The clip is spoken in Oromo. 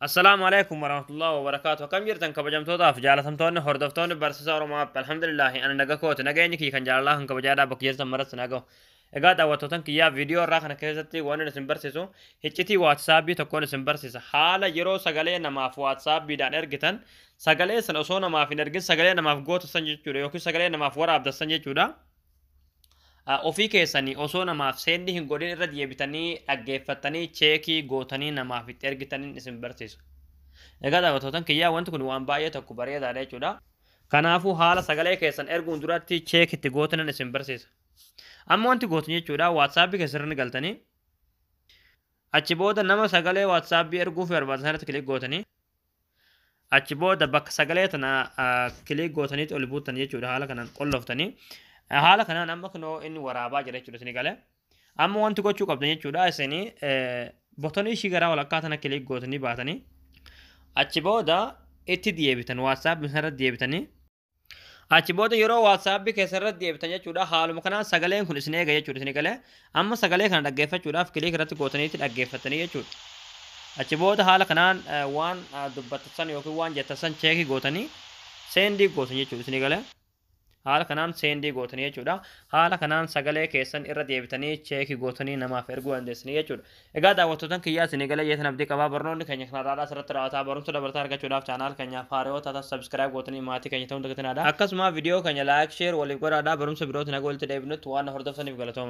Assalaamu alaikum warahmatullahi wabarakaatu. Akkam jirtan kabajamtootaaf jaalatamtoonni hordoftoonni barsiisa Oromoo App. Alhamdulillahi ani naga kooti. Nageenyi kiyya kan jaalalaa kan kabajaadhaa bakka jirtan maratti na gahu. Egaa daawwattootan kiyyaa viidiyoo irraa kana keessatti waan inni isin barsiisu hiccitii waatsaapii tokkoon isin barsiisa. Haala yeroo sagalee namaaf waatsaappiidhaan ergitan sagalee sana osoo namaaf hin ergin sagalee namaaf gootassan jechuudha yookiin sagalee namaaf waraabdassan jechuudha. Ofii keessanii osoo namaaf seendi hin godhin irra deebitanii dhaggeeffattanii cheekii gootanii namaaf itti ergitanin isin barsiisa. Egaa daawwattootan kiyyaa wanti kun waan baay'ee tokko bareedaadha jechuudha. Kanaafuu haala sagalee keessan erguun duratti cheek itti gootanan isin barsiisa. Amma wanti gootan jechuudha WhatsApp keessan galtanii achi booda nama sagalee WhatsApp erguuf barbaaddan sanatti kilik gootanii achi booda bakka sagalee tana kiliik gootaniitti ol buutan jechuudha haala kanaan qolloftanii haala kanaan amma kunoo inni waraabaa jira jechuudha isin galee amma wanti gochuu qabdan jechuudha isin botonii ishii garaa walakkaa tana kiliik gootanii baatanii achi booda itti deebitan waatsaap isarra deebitanii Achi booda yeroo WhatsApp keessa irratti deebitan jechuudha. Haaluma kanaan sagaleen kun isin eega jechuudha isin galee. Amma sagalee kana dhaggeeffachuudhaaf kiliik irratti gootaniitti dhaggeeffattanii jechuudha. Achi booda haala kanaan eh, waan ah, dubbattan yookiin waan jettan cheekii gootanii seendii gootan jechuudha isin galee. Haala kanaan seendii gootanii jechuudha. Haala kanaan sagalee keessan irra deebitanii cheekii gootanii namaaf erguu dandeessanii jechuudha. Egaa daawwattootan kiyyaa isinii galee jeetan abdii qabaa barnoonni keenya kan har'aadhaa asirratti raawwataa barumsa dabalataa argachuudhaaf channel keenyaaf haaraa yoo taatan subscribe gootanii maatii keenya ta'uun dagatinaa dha akkasumaa video keenya like share waliif godhaadhaa barumsa birootiin haga walitti deebinutti waan na hordoftaniif galatoomaa.